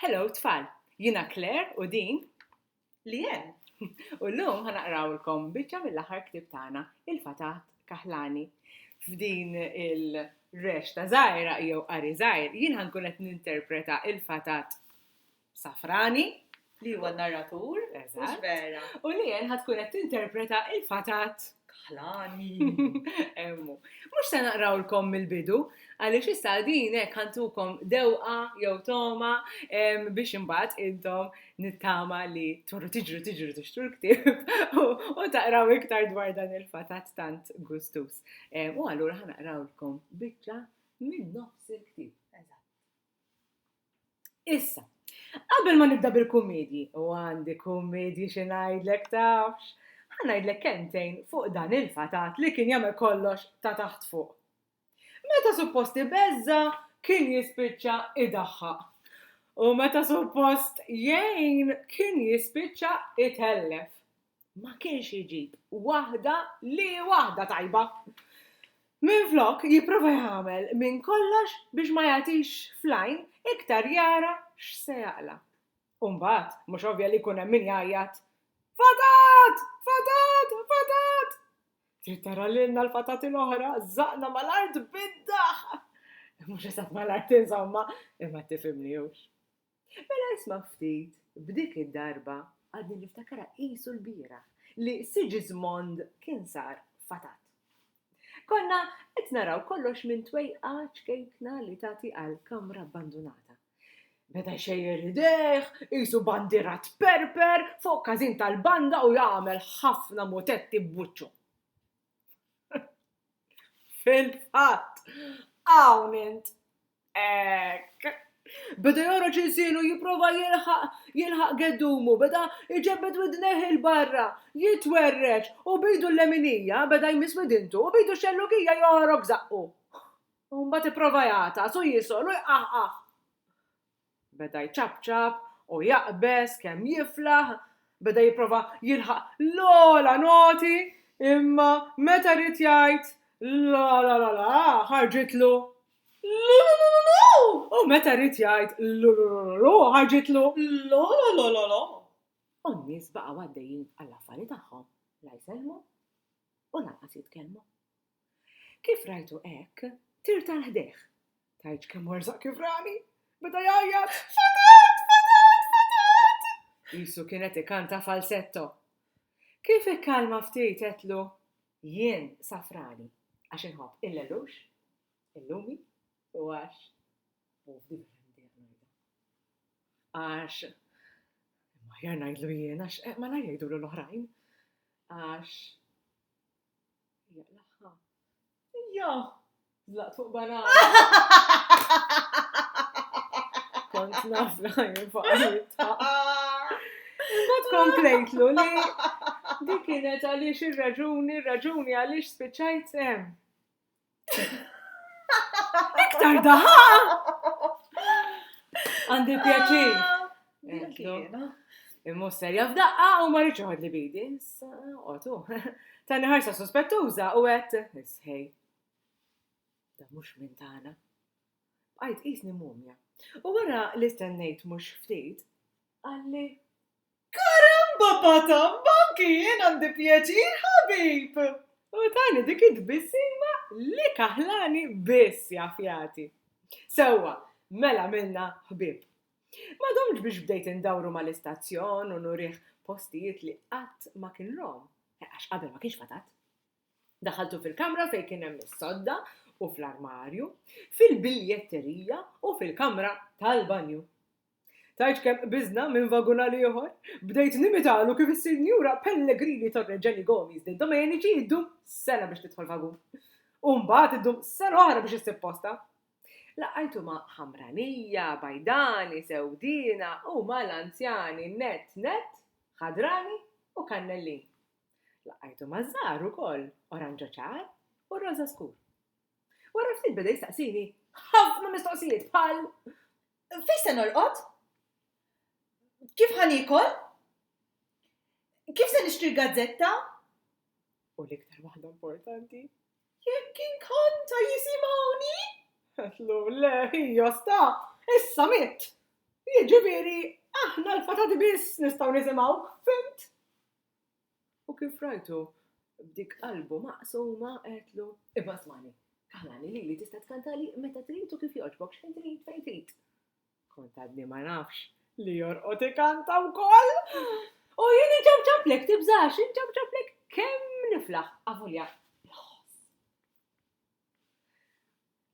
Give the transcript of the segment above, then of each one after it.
Hello tfal, jina Claire u din li jen. U l-lum ħanaqrawlkom biċċa mill-aħħar ktib tagħna il-fatat kaħlani. F'din il-rex ta' żgħira jew qari żgħir jien ħankun qed ninterpreta il-fatat safrani Li huwa narratur, mhux vera. U li jen ħad tkun qed tinterpreta il-fatat. Kaħlani. Emmu. Mhux se naqrawlkom mill-bidu, għaliex issa din hekk ħantukom dewqa jew toma biex imbagħad intom nittama li torru tiġru tiġru tixtru l-ktieb u taqraw iktar dwar dan il-fatat tant gustus. U allura ħanaqrawlkom biċċa minn nofs il-ktieb. Issa, qabel ma nibda bil-kummedji, u għandi kummedji xi ngħidlek tafx, ħa ngħidlek kelmtejn fuq dan il-fatat li kien jagħmel kollox ta' taħt fuq. Meta suppost ibeżża' kien jispiċċa idaħħaq. U meta suppost jgħin kien jispiċċa itellef. ma kienx iġib waħda li hi waħda tajba. Minflok jipprova jagħmel minn kollox biex ma jagħtix fl-għajn iktar jara x'se jaqla'. U mbagħad mhux ovvja li jkun hemm min jgħajjat, Fatat! Fatat! Fatat! Trid tara lilna l-fatati l-oħra, żaqna mal-art bid-daħ! Mhux eżatt mal-art insomma, imma tifhimni hux. Mela isma' ftit, b'dik id-darba għadni niftakarha qisu lbieraħ li Sigismond kien sar fatat. Konna qed naraw kollox minn twejqa ċkejkna li tagħti għal kamra abbandunata. Beda jxejjer idejh, qisu bandiera tperper fuq każin tal-banda u jagħmel ħafna mutetti b'wiċċu. Fil-fatt, hawn int! Hekk! Beda jgħorroġ ilsienu jipprova jilħaq geddumu, beda jġebbed widnejh 'il barra, jitwerreġ, u b'idu l-leminija beda jmiss widintu u b'idu x-xellugija joħrok żaqqu. Mbagħad ipprova jagħtas u jisol u jqaħqaħ. Beda jċapċap u jaqbeż kemm jiflaħ, beda jipprova jilħaq l-ogħla noti, imma meta ried jgħid l-la-la-la-la-la ħarġitlu l-lu-lu-lu-lu-lu u meta ried jgħid l-lu-lu-lu-lu-lu ħarġitlu l-lo-lo-lo-lo-lo. U n-nies baqgħu għaddejjin għall-affari tagħhom, la jsellmu u lanqas jitkellmu. Kif rajtu hekk, tirt għal ħdejh. Tgħidx kemm werzaq kif rani! Beda jgħajjat, Fatat! Fatat! Fatat! Qisu kien qed ikanta falsetto. Kif ikkalma ftit għedtlu, Jien safrani għax inħobb il-lellux, il-lumi u għax u f'differenti għanajda. Għax ma jar ngħidlu jien għax eh, ma ngħidulu l-oħrajn. Għax Jaqlaħħa. Jo! Zlaqt fuq banana. Kont naf li ħajin fuq Imbagħad komplejtlu li dik kienet għaliex ir-raġuni, ir-raġuni għaliex spiċċajt hemm. Iktar daħa! Għandi pjaċir. Ah, Immu serja f'daqqa u ma rridx li bidi. Otu. Tani ħarsa sospettuża u għet, isħej. Da mux minn tana. Għajt isni mumja. U wara li stennejt mux ftit, għalli Karamba Pata, anki jien għandi pjaċir ħabib! U tani dik it-tbissima li kaħlani biss jaf jagħti. Sewwa, mela għamilna ħbieb. Ma domtx biex bdejt indawru mal-istazzjon u nurih postijiet li qatt ma kien rom, għax qabel ma kienx fatat. Daħaltu fil-kamra fejn kien hemm is-sodda u fl-armarju, fil-biljetterija u fil-kamra tal-banju. Tgħidx kemm qbiżna minn vagun għal ieħor? Bdejt nimitalu kif is-Sinjura Pellegrini Torre Jenny Gomez li d-Domeniċi ddum sena biex tidħol vagun. U mbagħad iddum sena oħra biex issib postha. Laqajtu ma' ħamranija, bajdani, sewdiena u mal-anzjani nett nett, ħadrani u kannellin. Laqajtu maż-żgħar ukoll, oranġo ċar u roża skur. Wara ftit beda jistaqsini ħafna mistoqsijiet bħal Fejn se norqod? Kif ħa niekol? Kif se nixtri l-gazzetta? U l-iktar waħda importanti? Jekk inkont ta' jisimgħuni? Għatlu, le, hija sta, issa mitt. Jiġifieri, aħna l-fatati biss nistgħu nisimgħuk, fimt? U kif rajtu, b'dik qalbu maqsuma, għedtlu, Iva smagħni, kaħlani lili tista' tkantali meta trid u kif jogħġbok, x'ħin trid, fejn trid. Kont għadni ma nafx li jorqod ikanta wkoll! U jien inċapċaplek, tibżax, inċapċaplek kemm niflaħ, avolja, bla ħoss.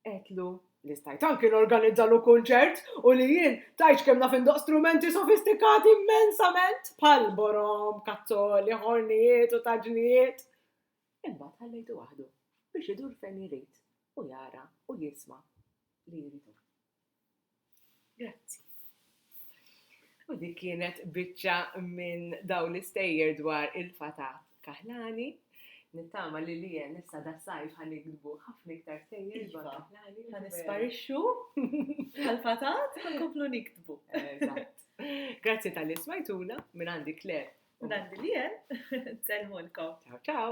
Għedtlu li stajt anki norganizzallu kunċert u li jien tajċ kemm naf indoq strumenti sofistikati immensament bħal borom, kazzoli, ħornijiet u taġnijiet. Imbagħad ħallejtu waħdu biex idur fejn jrid u jara u jisma' li jridu. Grazzi. U dik kienet biċċa minn daw l-istejjer dwar il-fatat kaħlani. Nittama li li jen issa da sajf għan ikdbu ħafna iktar stejjer dwar iva. kaħlani. Għan isparixxu għal-fatat għan komplu nikdbu. Grazzi tal-li smajtuna minn għandi Kler. Minn għandi li jen. Selmulkom. Ciao, ciao.